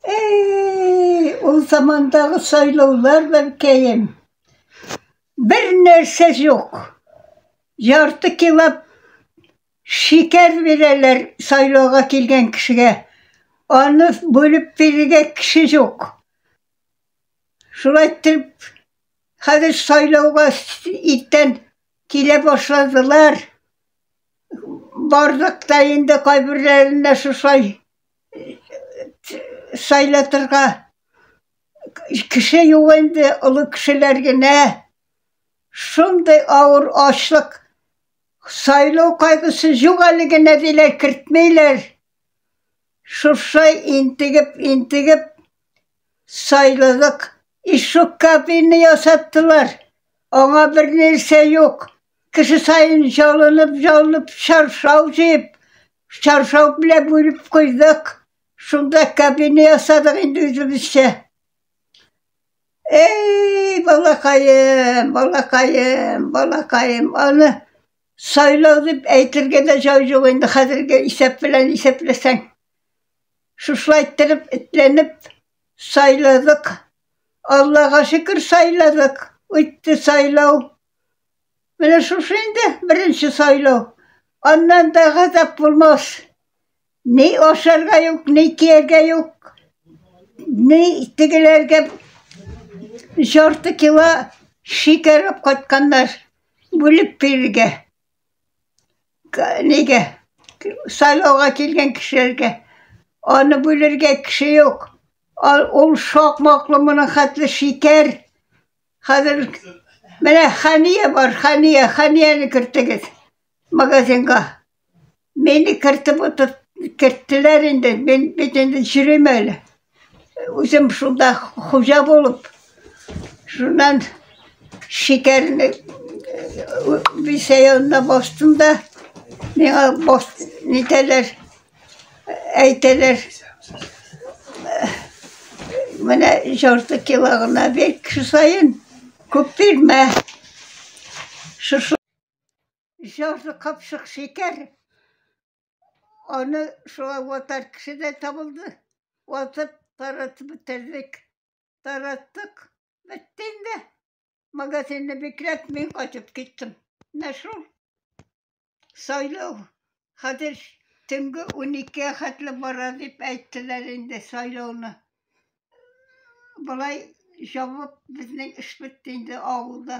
Эй, ул замандагы сайлаулар бәлкәем. Бер нәрсә юк. Ярты килап шикәр бирәләр сайлауга килгән кешегә. Аны бүлеп бирергә кеше юк. Шулай итеп, хәзер сайлауга иртән килә башладылар. барлык та инде кайберләренә шушай сайлатырга кеше юк инде олы кешеләр генә шундый авыр ачлык сайлау кайгысы юк әле генә диләр кертмиләр шушай интегеп интегеп сайладык ишек кабины ясаттылар аңа бернәрсә юк Кеше сайын җылынып, җылынып чаршау җыеп, чаршау белән бүреп куйдык. Шунда кабина ясадык инде үзебезчә. Эй, балакаем, балакаем, балакаем, аны сайлау дип әйтергә дә җай юк инде хәзерге исәп белән исәпләсәң. Шушылай иттереп, этләнеп сайладык. Аллага шөкер сайладык. Үтте сайлау. Менә шушы инде беренче сайлау. Аннан да газап булмас. Ни ашарга юк, ни кияргә юк. Ни тегеләргә жарты кило шикәр алып кайтканнар. Бүлеп бирергә. Нигә? Сайлауга килгән кешеләргә. Аны бүлергә кеше юк. Ул шакмаклы моның хәтле шикәр. Хәзер менә Хәния бар, Хәния, Хәнияне кертегез магазинга. Мине кертеп утыр, керттеләр инде, мин бит инде чирим әле. Үзем шунда хуҗа булып, шуннан шикәрне бисәянна бастым да, миңа баст, нитәләр, Әйтәләр, менә жарты кило гына бир, кеше саен күп бирмә. Шушы жарты капшык шикәр, аны шулай ватар кеше дә табылды. Ватып, таратып бетердек. Тараттык, бетте инде. Магазинны бикләп, мин кайтып киттем. Менә шул сайлау хәзер төнге уникегә хәтле бара дип әйттеләр инде сайлауны. Болай җавап безнең эш бетте инде авылда.